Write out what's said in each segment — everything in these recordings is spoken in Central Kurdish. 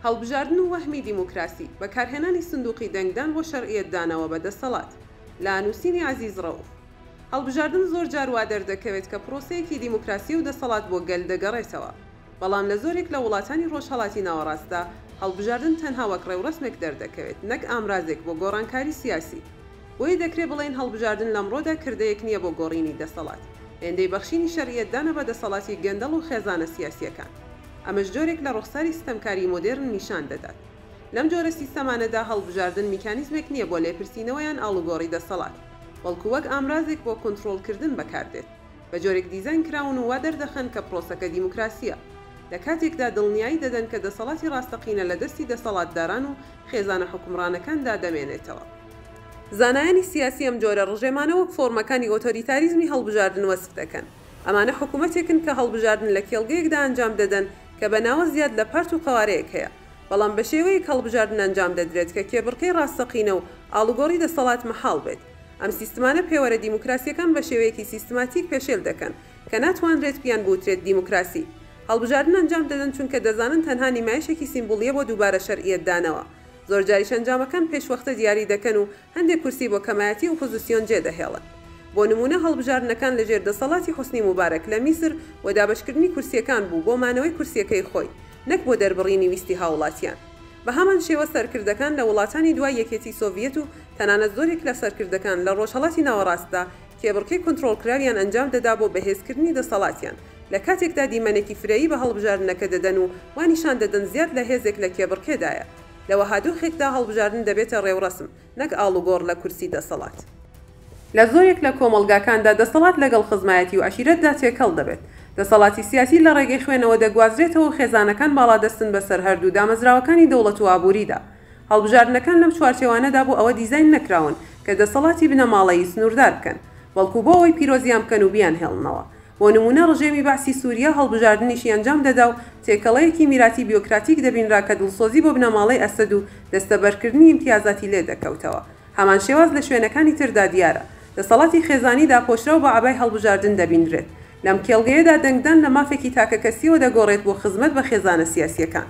هەڵبژاردن و وەهمی دیموکراسی، بەکارهێنانی سندوقی دەنگدان بۆ شەرعیەتدانەوە بە دەسەڵات. لە نووسینی عەزیز ڕەوف. هەڵبژاردن زۆر جار وا دەردەکەوێت کە پرۆسەیەکی دیموکراسییە و دەسەڵات بۆ گەل دەگەڕێتەوە. بەڵام لە زۆرێک لە وڵاتانی ڕۆژهەڵاتی ناوەڕاستدا، هەڵبژاردن تەنها وەک ڕێوڕەسمێک دەردەکەوێت، نەک ئامرازێک بۆ گۆڕانکاری سیاسی. بۆیە دەکرێ بڵێین هەڵبژاردن لەمڕۆدا کردەیەک نییە بۆ گۆڕینی دەسەڵات. هێندەی بەخشینی شەرعیەتدانە بە دەسەڵاتی گەندەڵ و خێزانە سیاسییەکان. ئەمەش جۆرێک لە ڕوخساری ستەمکاریی مۆدێرن نیشان دەدات. لەم جۆرە سیستەمانەدا هەڵبژاردن میکانیزمێک نییە بۆ لێپرسینەوە یان ئاڵوگۆڕی دەسەڵات، بەڵکو وەک ئامرازێک بۆ کونتڕۆڵکردن بەکاردێت. بە جۆرێک دیزاین کراون و وا دەردەخەن کە پرۆسەکە دیموکراسییە، لە کاتێکدا دڵنیایی دەدەن کە دەسەڵاتی ڕاستەقینە لە دەستی دەسەڵاتداران و خێزانە حوکمڕانەکاندا دەمێنێتەوە. زانایانی سیاسی ئەم جۆرە ڕژێمانە وەک فۆرمەکانی ئۆتۆریتاریزمی هەڵبژاردن وەسف دەکەن. ئەمانە حکوومەتێکن کە هەڵبژاردن لە کێڵگەیەکدا ئەنجام دەدەن کە بە ناوە زیاد لە پارت و قەوارەیەک هەیە، بەڵام بە شێوەیەک هەڵبژاردن ئەنجام دەدرێت کە کێبڕکێی ڕاستەقینە و ئاڵوگۆڕی دەسەڵات مەحاڵ بێت. ئەم سیستمانە پێوەرە دیموکراسییەکان بە شێوەیەکی سیستماتیک پێشێل دەکەن، کە ناتوانرێت پییان بوترێت دیموکراسی. هەڵبژاردن ئەنجام دەدەن چونکە دەزانن تەنها نیمایشێکی سیمبولییە بۆ دووبارە شەرعییەت دانەوە. زۆرجاریش ئەنجامەکان پێشوەختە دیاری دەکەن و هەندێک کورسی بۆ کەمایەتی ئوپوزسیۆن جێ دەهێڵن. بۆ نموونە هەڵبژاردنەکان لە ژێر دەسەڵاتی حوسنی موبارەک لە میسر بۆ دابەشکردنی کورسییەکان بوو بۆ مانەوەی کورسییەکەی خۆی نەک بۆ دەربڕینی ویستی هاوڵاتییان. بە هەمان شێوە سەرکردەکان لە وڵاتانی دوای یەکێتی سۆڤییەت و تەنانەت زۆرێک لە سەرکردەکان لە ڕۆژهەڵاتی ناوەڕاستدا کێبڕکێ کۆنترۆڵکراویان ئەنجام دەدا بۆ بەهێزکردنی دەسەڵاتیان، لە کاتێکدا دیمەنێکی فرەیی بە هەڵبژاردنەکە دەدەن و وا نیشان دەدەن زیاد لە هێزێک لە کێبڕکێدایە. لە وەها دۆخێکدا هەڵبژاردن دەبێتە ڕێوڕەسم، نەک ئاڵوگۆڕ لە کورسی دەسەڵات. لە زۆرێک لە کۆمەڵگاکاندا دەسەڵات لەگەڵ خزمایەتی و عەشیرەتدا تێکەڵ دەبێت. دەسەڵاتی سیاسی لە ڕێگەی خوێنەوە دەگوازرێتەوە و خێزانەکان باڵادەستن بەسەر هەردوو دامەزراوەکانی دەوڵەت و ئابووریدا. هەڵبژاردنەکان لەم چوارچێوانەدا بۆ ئەوە دیزاین نەکراون کە دەسەڵاتی بنەماڵەیی سنووردار بکەن، بەڵکو بۆ ئەوەی پیرۆزیان بکەن و بیانهێڵنەوە. بۆ نموونە ڕژێمی بەعسی سووریا هەڵبژاردنیشی ئەنجام دەدا و تێکەڵەیەکی میراتی بیۆکراتیک دەبینرا کە دڵسۆزی بۆ بنەماڵەی ئەسەد و دەستەبەرکردنی ئیمتیازاتی لێ دەکەوتەوە. هەمان شێواز لە شوێنەکانی تردا دیارە. دەسەڵاتی خێزانی داپۆشراو بە عەبای هەڵبژاردن دەبینرێت. لەم کێڵگەیەدا دەنگدان لە مافێکی تاکەکەسییەوە دەگۆڕێت بۆ خزمەت بە خێزانە سیاسییەکان.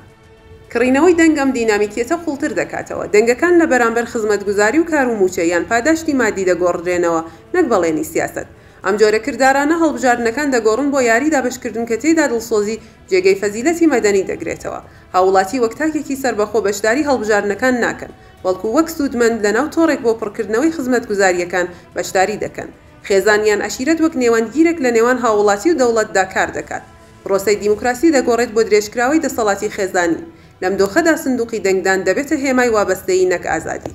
کڕینەوەی دەنگ ئەم دینامیکیەتە قوڵتر دەکاتەوە. دەنگەکان لە بەرامبەر خزمەتگوزاری و کار و مووچە یان پاداشتی مادی دەگۆڕدرێنەوە نەک بەڵێنی سیاسەت. ئەم جۆرە کردارانە هەڵبژاردنەکان دەگۆڕن بۆ یاری دابەشکردن کە تێیدا دڵسۆزی جێگەی فەزیلەتی مەدەنی دەگرێتەوە. هاووڵاتی وەک تاکێکی سەربەخۆ بەشداری هەڵبژاردنەکان ناکەن، بەڵکو وەک سوودمەند لەناو تۆڕێک بۆ پڕکردنەوەی خزمەتگوزارییەکان بەشداری دەکەن. خێزان یان عەشیرەت وەک نێوەندگیرێک لەنێوان هاووڵاتی و دەوڵەتدا کار دەکات. پرۆسەی دیموکراسی دەگۆڕێت بۆ درێژکراوەی دەسەڵاتی خێزانی. لەم دۆخەدا سندوقی دەنگدان دەبێتە هێمای وابەستەیی نەک ئازادی.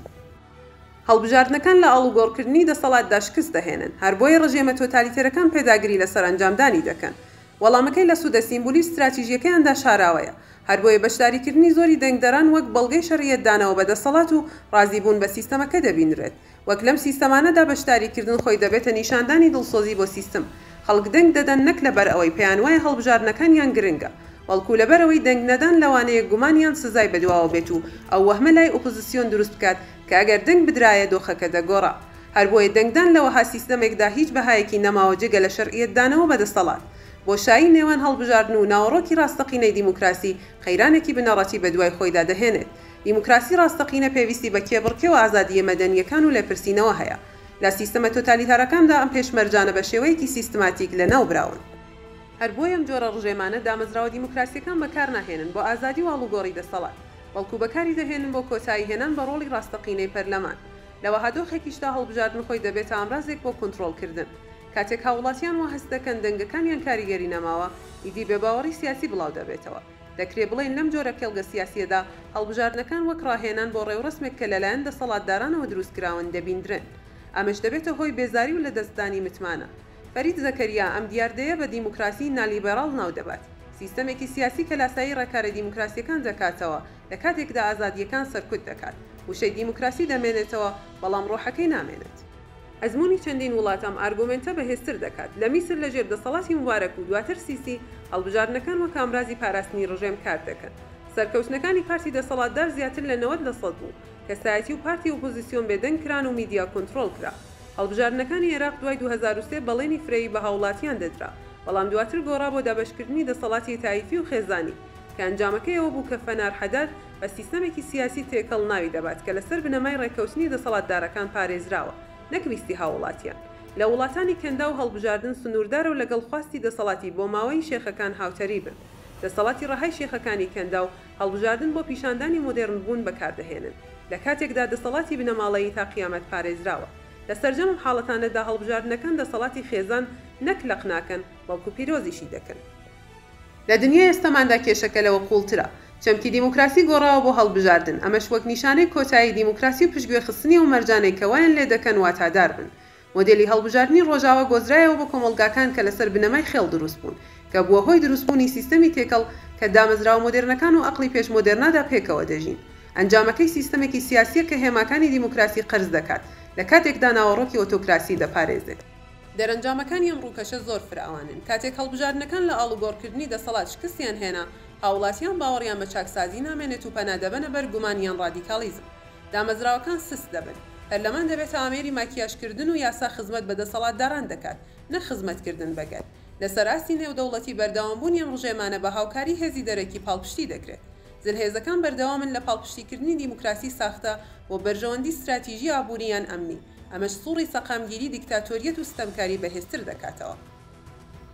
هەڵبژاردنەکان لە ئاڵوگۆڕکردنی دەسەڵاتدا شکست دەهێنن، هەر بۆیە ڕژێمە تۆتالیتێرەکان پێداگری لە سەرئەنجامدانی دەکەن. وەڵامەکەی لە سوودە سیمبولی و ستراتیژییەکەیاندا شاراوەیە. هەر بۆیە بەشداریکردنی زۆری دەنگدەران وەک بەڵگەی شەرعیەتدانەوە بە دەسەڵات و ڕازیبوون بە سیستەمەکە دەبینرێت. وەک لەم سیستەمانەدا بەشداریکردن خۆی دەبێتە نیشاندانی دڵسۆزی بۆ سیستم. خەڵک دەنگ دەدەن نەک لەبەرئەوەی پێیانوایە هەڵبژاردنەکانیان گرنگە، بەڵکو لەبەرئەوەی دەنگنەدان لەوانەیە گومان یان سزای بەدواوە بێت و ئەو وەهمە لای ئۆپۆزسیۆن دروست بکات کە ئەگەر دەنگ بدرایە دۆخەکە دەگۆڕا. هەر بۆیە دەنگدان لە وەها سیستەمێکدا هیچ بەهایەکی نەماوە جگە لە شەرعیەتدانەوە بە دەسەڵات. بۆشایی نێوان هەڵبژاردن و ناوەڕۆکی ڕاستەقینەی دیموکراسی قەیرانێکی بنەڕەتی بەدوای خۆیدا دەهێنێت. دیموکراسی ڕاستەقینە پێویستی بە کێبڕکێ و ئازادییە مەدەنییەکان و لێپرسینەوە هەیە. لە سیستەمە تۆتالیتارەکاندا ئەم پێشمەرجانە بە شێوەیەکی سیستماتیک لەناو براون. هەر بۆیە ئەم جۆرە ڕژێمانە دامەزراوە دیموکراسییەکان بەکار ناهێنن بۆ ئازادی و ئاڵوگۆڕی دەسەڵات، بەڵکو بەکاری دەهێنن بۆ کۆتایی هێنان بە ڕۆڵی ڕاستەقینەی پەرلەمان. لە وەها دۆخێکیشدا هەڵبژاردن خۆی دەبێتە ئامرازێک بۆ کونتڕۆڵکردن. کاتێک هاووڵاتیان وا هەست دەکەن دەنگەکانیان کاریگەری نەماوە، ئیدی بێباوەڕی سیاسی بڵاو دەبێتەوە. دەکرێ بڵێین لەم جۆرە کێڵگە سیاسییەدا هەڵبژاردنەکان وەک ڕاهێنان بۆ ڕێوڕەسمێک کە لەلایەن دەسەڵاتدارانەوە دروستکراون دەبیندرێن. ئەمەش دەبێتە هۆی بێزاری و لەدەستدانی متمانە. فەرید زەکەریا ئەم دیاردەیە بە دیموکراسیی نالیبێراڵ ناو دەبات. سیستەمێکی سیاسی کە لاسایی ڕێکارە دیموکراسییەکان دەکاتەوە لە کاتێکدا ئازادییەکان سەرکوت دەکات. وشەی دیموکراسی دەمێنێتەوە، بەڵام ڕۆحەکەی نامێنێت. ئەزموونی چەندین وڵات ئەم ئارگۆمێنتە بەهێزتر دەکات. لە میسر لەژێر دەسەڵاتی موبارەک و دواتر سیسی، هەڵبژاردنەکان وەک ئامرازی پاراستنی ڕژێم کار دەکەن. سەرکەوتنەکانی پارتی دەسەڵاتدار زیاتر لە نەوەد لە سەد بوو. کەسایەتی و پارتی ئۆپۆزیسیۆن بێدەنگ کران و میدیا کۆنترۆڵ کرا. هەڵبژاردنەکانی عێراق دوای دوو هەزار و سێ بەڵێنی فرەیی بە هاوڵاتیان دەدرا، بەڵام دواتر گۆڕا بۆ دابەشکردنی دەسەڵاتی تایفی و خێزانی. کە ئەنجامەکەی ئەوە بوو کە فەنار حەداد بە سیستەمێکی سیاسی تێکەڵ ناوی دەبات کە لەسەر بنەمای ڕێککەوتنی دەسەڵاتدارەکان پارێزراوە نەک ویستی هاووڵاتیان. لە وڵاتانی کەنداو هەڵبژاردن سنووردارە و لەگەڵ خواستی دەسەڵاتی بۆماوەیی شێخەکان هاوتەریبن. دەسەڵاتی ڕەهای شێخەکانی کەنداو هەڵبژاردن بۆ پیشاندانی مۆدێڕن بوون بەکاردەهێنن لە کاتێکدا دەسەڵاتی بنەماڵەیی تا قیامەت پارێزراوە. لە سەرجەم حاڵەتانەدا هەڵبژاردنەکان دەسەڵاتی خێزان نەک لەق ناکەن بەڵکو پیرۆزیشی دەکەن. لە دنیای ئێستەماندا کێشەکە لەوە قووڵترە. چەمکی دیموکراسی گۆڕاوە بۆ هەڵبژاردن، ئەمەش وەک نیشانەی کۆتایی دیموکراسی و پشتگوێخستنی ئەو مەرجانەی کە وایان لێ دەکەن واتادار بن. مۆدێلی هەڵبژاردنی ڕۆژاوا گۆزرایەوە بۆ کۆمەڵگاکان کە لەسەر بنەمای خێڵ دروست بوون، کە بووە هۆی دروستبوونی سیستەمی تێکەڵ کە دامەزراوە مۆدێرنەکان و ئەقڵی پێش مۆدێرنادا پێکەوە دەژین. ئەنجامەکەی سیستەمێکی سیاسییە کە هێماکانی دیموکراسی قەرز دەکات، لە کاتێکدا ناوەڕۆکی ئۆتۆکراسی دەپارێزێ. دەرەنجامەکانی ئەم ڕووکەشە زۆر فراوانن. کاتێک هەڵبژاردنەکان لە ئاڵوگۆڕکردنی دەسەڵات شکستیان هێنا، هاووڵاتیان باوەڕیان بە چاکسازی نامێنێت و پەنا دەبەنە بەر گومان یان ڕادیکاڵیزم. دامەزراوەکان سست دەبن. پەرلەمان دەبێتە ئامێری ماکیاژکردن و یاسا خزمەت بە دەسەڵاتداران دەکات، نەک خزمەتکردن بە گەل. لەسەر ئاستی نێودەوڵەتی بەردەوامبوونی ئەم ڕژێمانە بە هاوکاری هێزی دەرەکی پاڵپشتی دەکرێت. زلهێزەکان بەردەوامن لە پاڵپشتیکردنی دیموکراسی ساختە بۆ بەرژەوەندی ستراتیژی ئابووری یان ئەمنی. ئەمەش سوڕی سەقامگیری دیکتاتۆریەت و ستەمکاری بەهێزتر دەکاتەوە.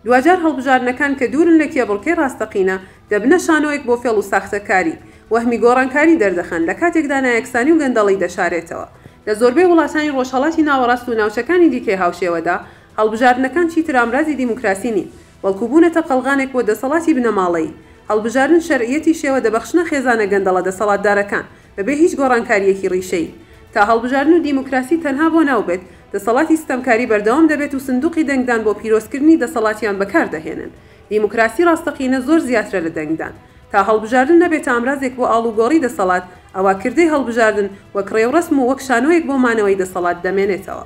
دواجار هەڵبژاردنەکان کە دوورن لە کێبڕکێی ڕاستەقینە، دەبنە شانۆیەک بۆ فێڵ و ساختەکاری، وەهمی گۆڕانکاری دەردەخەن، لە کاتێکدا نایەکسانی و گەندەڵی دەشارێتەوە. لە زۆربەی وڵاتانی ڕۆژهەڵاتی ناوەڕاست و ناوچەکانی دیکەی هاوشێوەدا، هەڵبژاردنەکان چیتر ئامرازی دیموکراسی نین، بەڵکو بوونەتە قەڵغانێک بۆ دەسەڵاتی بنەماڵەیی. هەڵبژاردن شەرعیەتی شێوە دەبەخشنە خێزانە گەندەڵە دەسەڵاتدارەکان. بەبێ هیچ گۆڕانکارییەکی ڕیشەیی. تا هەڵبژاردن و دیموکراسی تەنها بۆ ناو بێت، دەسەڵاتی ستەمکاری بەردەوام دەبێت و سندوقی دەنگدان بۆ پیرۆزکردنی دەسەڵاتیان بەکار دەهێنن. دیموکراسی ڕاستەقینە زۆر زیاترە لە دەنگدان. تا هەڵبژاردن نەبێتە ئامرازێک بۆ ئاڵوگۆڕی دەسەڵات، ئەوا کردەی هەڵبژاردن وەک ڕێوڕەسم و وەک شانۆیەک بۆ مانەوەی دەسەڵات دەمێنێتەوە.